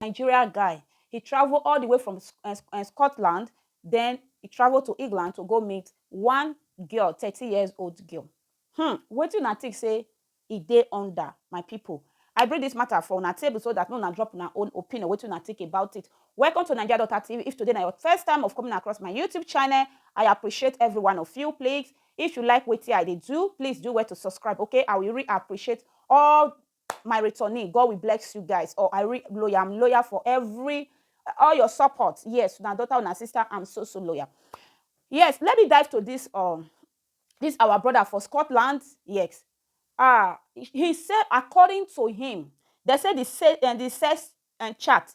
Nigeria guy. He travel all the way from eh, eh, Scotland, then he travel to England to go meet one girl, 30 years old girl. Hmm, what you think say e dey under my people? I bring this matter for una table so that no na drop una own opinion, what you think about it. Welcome to Nigeria Daughter TV. If today na your first time of coming across my YouTube channel, I appreciate every one of you. Please, if you like what I dey do, please do well to subscribe, okay? I will really appreciate all my returning god will bless you guys or i re loyal i'm loyal for every all your support yes una daughter una sister i'm so so loyal yes let me dive to this um this our brother for scotland yes ah he said according to him they say the se- and the sex and chat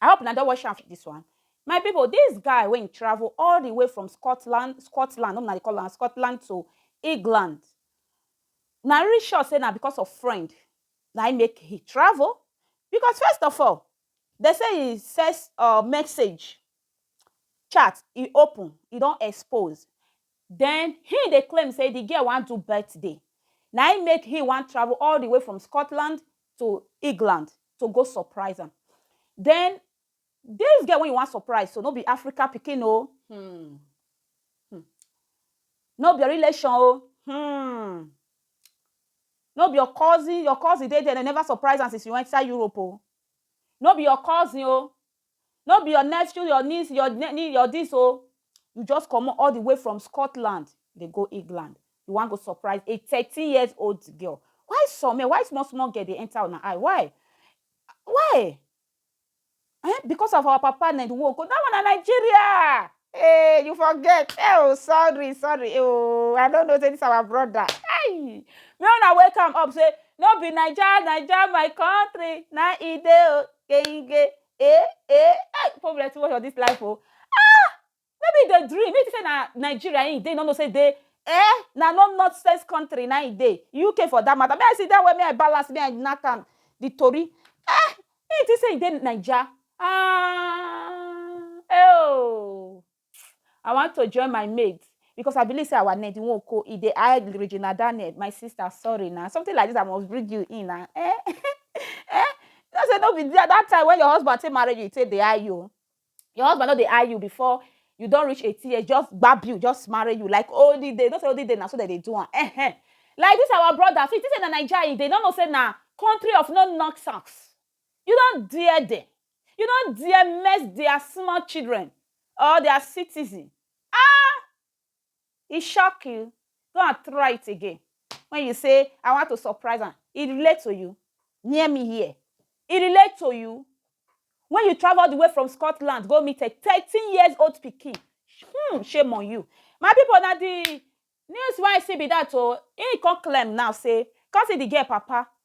I hope una don watch am this one. My people, this guy wey im travel all the way from Scotland, Scotland, no be na dey call am Scotland to England. Na really sure say na because of friend na im make he travel because first of all, dem say he send um message chat e open e don expose den him dey claim say the girl wan do birthday na him make him wan travel all the way from Scotland to England to go surprise am den this girl wey you wan surprise so no be Africa pikin oo hmm hmm no be your relation oo hmm no be your cousin, your cousin dey there dem never surprise am since you enter Europe oo no be your cousin oo no be your nephew, your niece, your ne-ne, your dis o, you just comot all the way from Scotland dey go England, you wan go surprise a thirteen years old girl, why some men, why small small girl dey enter una eye, why? Why? Ehn, because of our papa na di way we go, dat one na Nigeria! Hey, you forget. Hey, oh, sorry, sorry. Oh, I don't know say this our brother. Hey, me wanna wake am up say no be Naija, Naija my country. Na e dey o, genge. Eh, eh, hey, people plenty watch for this life oh. Ah, maybe the dream. Maybe say na Nigeria e dey, no know say dey. Eh, na no not sense country na e dey. UK for that matter. May I see that way, may I balance, may I knack am. The tori. Eh, Shey you think say you dey Naija? Aahh eeooh I want to join my mate because I believe say our ned nwoko e dey high Regina Daniel my sister sorry na something like this I must bring you in na eh eh you know say no be that time when your husband take marry you e take dey high you o your husband no dey eye you before you don reach eighteen years just gbab you just marry you like olden day no say olden day na so dem dey do am eh eh like this our brother so you think say na naija e dey no know say na country of no nonsense you don dare dem you don dare mess their small children or their citizen ah e shock you go and try it again when you say i want to surprise am e relate to you near me here e relate to you when you travel all the way from scotland go meet a thirteen years old pikin hmm shame on you my people na the news wey i see be that o he come claim now say come see the girl papa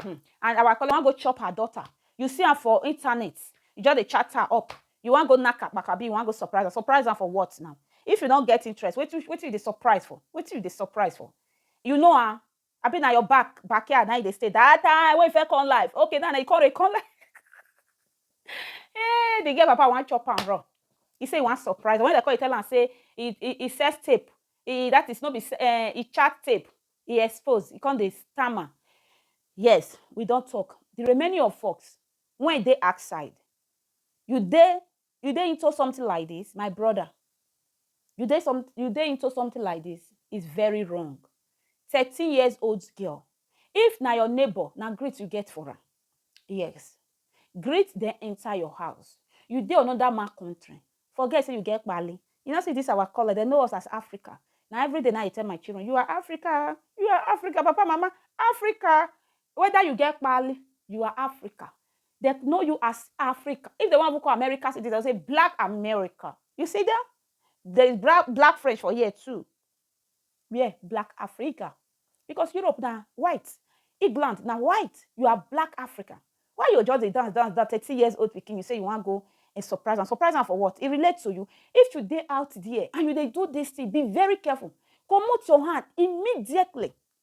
Hmm and our colleague wan go chop her daughter, you see am for internet, you just dey chat her up, you wan go knack akpaka abi you wan go surprise am, surprise am for what now? If you no get interest wetin you dey surprise for, wetin you dey surprise for? You know her? Abi na your back backyard na im you dey stay that time wey you first come life, okay now na you come dey come life Hey the girl papa wan chop am run, he say he wan surprise am, when dem come dey tell am say he he he sex tape, he that is no be sex, eh he chat tape e expose, e come dey stammer yes we don talk the remaining of us wey dey outside you dey you dey into something like this my brother you dey some you dey into something like this is very wrong thirteen years old girl if na your neighbor na greet you get for am yes greet dem enter your house you dey another man country Forget say you get kpaali. You no see this our color, dem know us as Africa. Na everyday na I dey tell my children, you are Africa, you are Africa, papa, mama, Africa. Whether you get kpaali, you are Africa. Dem know you as Africa. If dem wan even call America citizen, dem say black America. You see them? There is bra- black French for here too. Wear black Africa because Europe na white, England na white, you are black African. Why you go just dey dance dance dance thirty years old pikin you say you wan go um surprise am, surprise am for what? E relate to you? If you dey out there and you dey do this thing be very careful, comot your hand immediately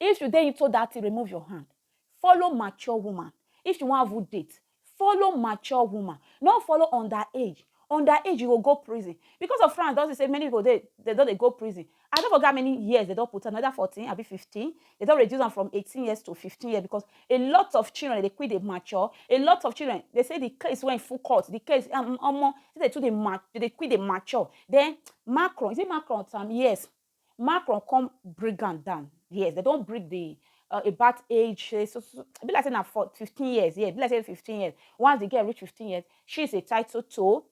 If you dey into that thing, remove your hand. Follow mature woman. If you wan even date, follow mature woman. No follow underage. Underage, you go go prison. Because of France, don see say many people dey, they don dey go prison. I no forget how many years they don put am, either 14 abi 15. They don reduce am from 18 years to 15 years because a lot of children dey quick dey mature. A lot of children, they say the case wey full court, the case, um, omo, say they too dey ma, they dey quick dey mature. Then Macron, is it Macron? Yes. Macron come bring am down. Yes, they don bring the uh, about age. Say, so, so, e be like say na for 15 years. Yeah, e be like say 15 years. Once the girl reach 15 years, she is entitled to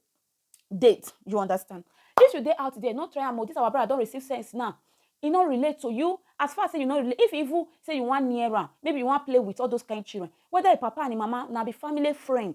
date. You understand? If you dey out there, not try am. oh, This our brother don receive sense now. E no relate to you. As far as say you no relate, if you even say you wan near am, maybe you wan play with all those kind children. Whether your papa and your mama na be family friend,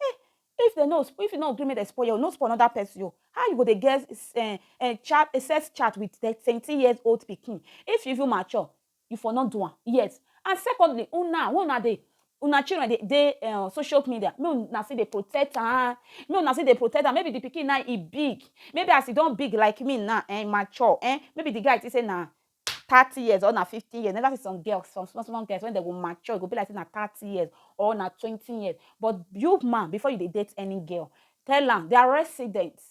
Eh, if they no, if you no agree make they spoil you, no spoil another person you. How you go dey get uh, uh, chat, uh, sex chat with 20 years old pikin? If you even mature, you for not do am. Yes. And secondly, una, when una dey, una children dey dey uh, social media, make una see dey protect am, make una see dey protect am. Maybe the pikin now e big, maybe as e don big like me now, eh, mature, eh, maybe the guy think say na thirty years or na fifty years. You never see some girls, some small small girls when they go mature, go be like say na thirty years or na twenty years. But you man, before you dey date any girl, tell am their residence,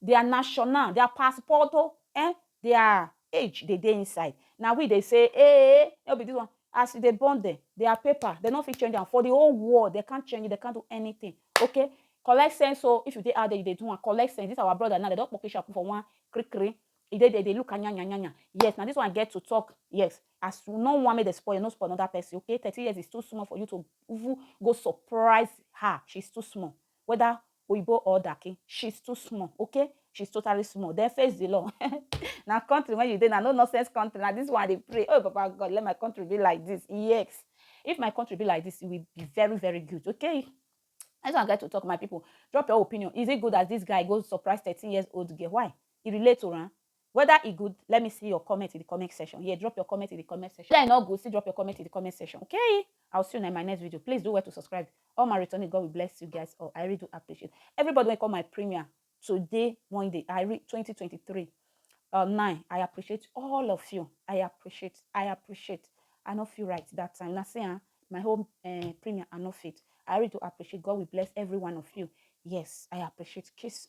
their national, their passport, oh, eh, their age dey dey inside. Na we dey say, eh, eh, no be this one. As you dey born them, their paper, they no fit change am. For the whole world, they can't change it, they can't do anything. Okay? Collect sense, so oh, if you dey out there, you dey do one, collect sense. This our brother now, they don't pocket put for one, kri kri. e dey there, e dey look anyanya anyanya. Yes, na this one I get to talk. Yes, as you no want me to spoil, no spoil another person, okay? 30 years is too small for you to even go surprise her. She's too small. Whether Oyibo or Daki, she's too small, okay? She's totally small. Then face the law. now, country when you did, now no nonsense country. Now, this one they pray. Oh, Baba God, let my country be like this. Yes. If my country be like this, it will be very, very good, okay? I just get to talk, my people. Drop your opinion. Is it good as this guy goes surprise 13 years old girl? Why? e relate to am whether e good let me see your comment in the comment section here drop your comment in the comment section whether e no good still drop your comment in the comment section okay i will see you in my next video please do well to subscribe all my returning god will bless you guys all i really do appreciate everybody wey come my premiere today one day i read 2023 uh, nine i appreciate all of you i appreciate i appreciate i no feel right that time na say ah my whole uh, eh, premiere i no fit i really do appreciate god will bless every one of you yes i appreciate kiss